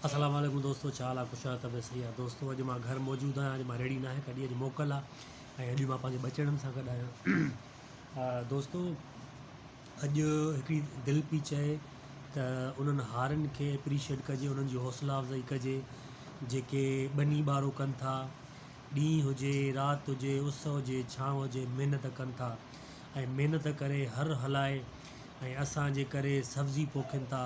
اسلام عليڪم دوستو ڇا حال آ خوش آھيو طبيعت صحيح آ دوستو اڄ مان گھر موجود آھيان اڄ مان ريڙھي ناھي ڪڍي اڄ موڪل آ ۽ اڄ مان پنھنجي ٻچڙن سان گڏ آھيان دوستو اڄ ھڪڙي دل پئي چئي ته انھن ھارن کي اپريشيئٽ ڪجي انھن جي حوصلا افزائي ڪجي جيڪي ٻني ٻارو ڪن ٿا ڏينھن ھجي رات ھجي اس ھجي ڇانو ھجي محنت ڪن ٿا ۽ محنت ڪري ھر ھلائي ۽ اسان جي ڪري سبزي پوکين ٿا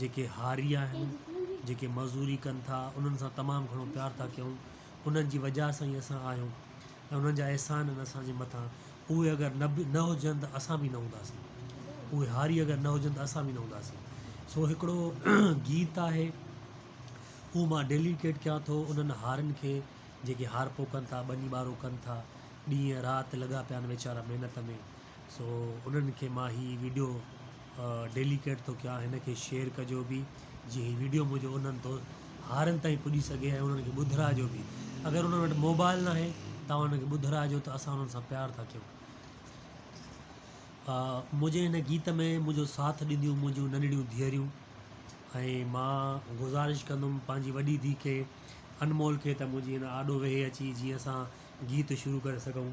جيڪي هاري آهن جيڪي مزوري ڪن ٿا انهن سان تمام گهڻو پيار ٿا ڪيون انهن جي وجهه سان ئي اسان آهيون ۽ انهن جا احسان آهن اسانجي مٿان اهي اگر نه به نه هجن ته اسان به نه هونداسين اهي هاري اگر نه هجن ته اسان به نه هونداسين سو هڪڙو گيت آهي اهو مان ڊيليڪيٽ ڪيان ٿو انهن هارن کي جيڪي هارپو ڪن ٿا ٻني ٻارو ڪن ٿا ڏينهن رات لڳا پيا آهن ويچارا محنت ۾ سو انهن کي مان هي ويڊيو ڊيليڪيٽ ٿو ڪيان هن کي شيئر ڪجو به جي هي ويڊيو منهنجو انهن دو هارن تائين پڄي سگهي ۽ انهن کي ٻڌرائجو به اگر انهن وٽ موبائل ناهي تون انهن کي ٻڌرائجو ته اسان انهن سان پيار ٿا ڪيون منهنجي هن گيت ۾ منهنجو ساٿ ڏينديون منهنجون ننڍڙيون ڌيئريون ۽ مان گذارش ڪندم پنهنجي وڏي ڌيء کي انمول کي ته منهنجي هن آڏو ويهي اچي جيئن اسان گيت شروع ڪري سگهون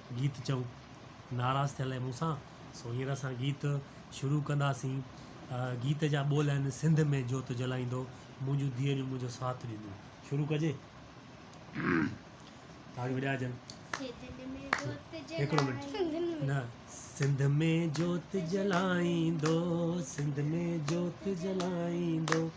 گيت چئو ناراض ٿيل آهي مون سان سو هينئر اسان گيت شروع ڪنداسين گيت جا ٻول آهن سنڌ ۾ جوت جلائيندو منهنجون ڌيئريون منهنجو ساٿ ڏيندو شروع ڪجي تاڙيون وڄائجن هڪڙو منٽ نه سنڌ ۾ جوت جلائيندو سنڌ ۾ جوت جلائيندو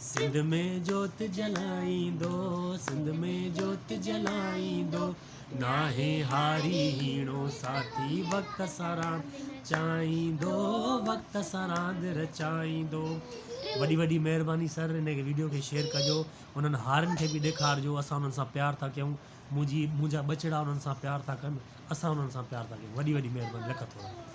سنڌ ۾ جوت جلائيندو، سنڌ ۾ جوت جلائيندو، ناهي هاري هيڻو ساٿي وقت سان راند چائيندو، وقت سان راند رچائيندو. وڏي وڏي مهرباني سر ان کي ويڊيو کي شيئر ڪجو انهن هارن کي به ڏيکارجو اسان انهن سان پيار ٿا ڪيون منهنجي منهنجا ٻچڙا انهن سان پيار ٿا ڪن اسان انهن سان پيار ٿا ڪيون وڏي وڏي مهرباني لک ٿورا.